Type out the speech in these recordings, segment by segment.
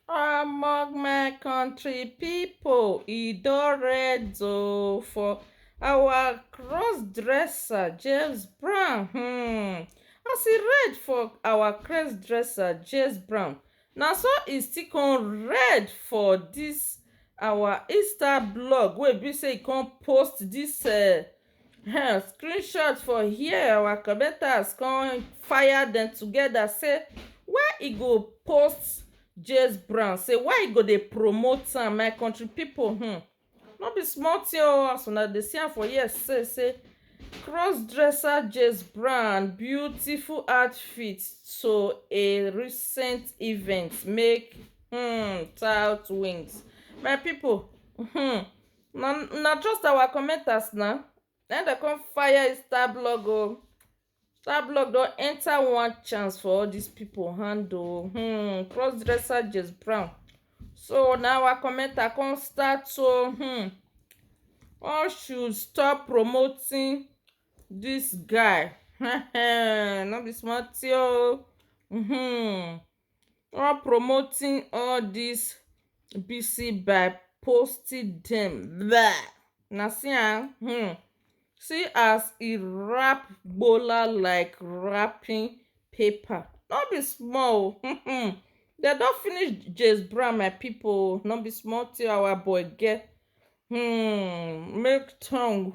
Among my country people, e don red oh for our cross dresser James Brown hmm. As e red for our cross dresser James Brown, na so e still come red for this our Insta blog wey be say e come post this uh, um screenshot for here our commenters come fire dem together say why e go post James Brown say why e go dey promote am my country people um no be small thing oh as una dey see am for here say say crossdresser James Brown beautiful outfit to a recent event make um tout wings my people um na na trust our commenters na na im dem come fire is star blog oh star blog don enter one chance for all these people hand oh hmm cross dresser Jess Brown so na our commenter come start to hmm all should stop promoting this guy no be small thing oh hmm All promoting all this BC by posting them. Blah. Now see am, ah, hmm. See as e wrap bola like wrapping paper. No be small. Oh. Hmm, hmm. They don finish James Brown, my people. No be small till our boy get hmm, make tongue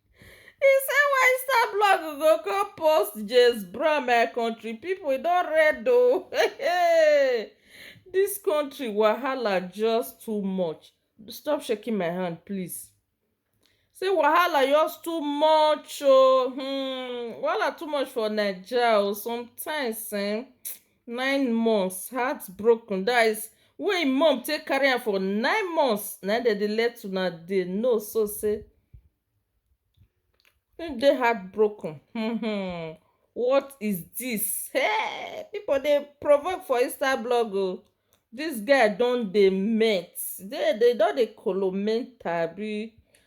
He say why star blog go come post James Brown my country people e don red o oh. this country wahala just too much stop shaking my hand please say wahala just too much o oh. hmm wahala too much for naija o oh. sometimes eh nine months heartbroken that is wey im mom take carry am for nine months na im dem dey let una dey know so say im dey heartbroken um what is this hey people dey provoke for inside blog o this guy don dey melt dey dey don dey koloment abi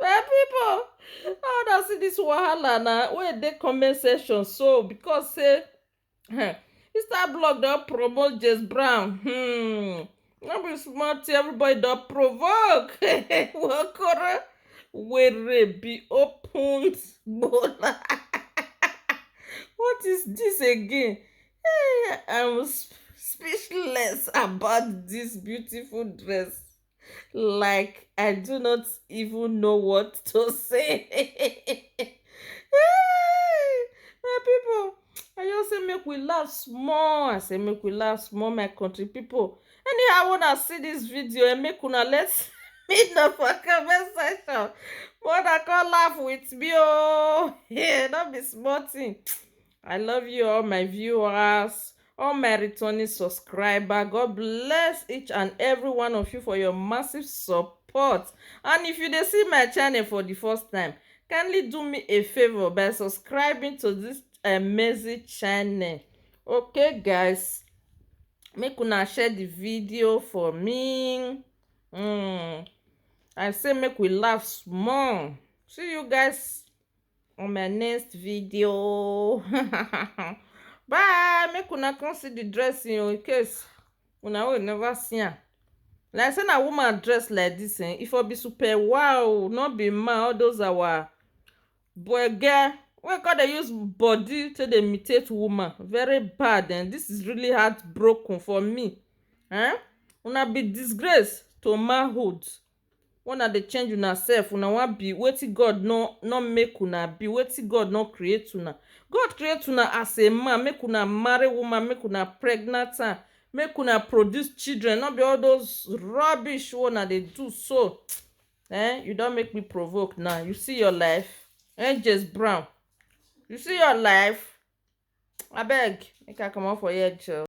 my people how una see this wahala na wey dey comment section so because say um, mr blog don promote james brown hmm no be small thing everybody don provoke wakoro were be opened gbola what is this again I'm speechless about this beautiful dress. Like, I do not even know what to say. my people, I just say make we laugh small. I say make we laugh small, my country people. Anyhow, when I see this video, and eh, make una let me know for comment section. But I can't laugh with me, oh. Yeah, not be small thing. I love you all my viewers, all my returning subscriber. God bless each and every one of you for your massive support. And if you dey see my channel for the first time, kindly do me a favor by subscribing to this amazing channel. Okay guys, make una share the video for me. Mm. I say make we laugh small. See you guys on my next video bye make una come see the dressing oh, in case una will never see am like say na woman dress like this eh if i be super wow not be man all those our boy girl wey come dey use body to dey imitate woman very bad and eh? this is really heartbroken for me eh una be disgrace to manhood Una dey change una self una wan be wetin God no no make una be wetin God no create una God create una as a man make una marry woman make una pregnant am make una produce children no be all those rubbish wey una dey do so um you don make me provoke now you see your life angels brown you see your life abeg make I comot for here jor.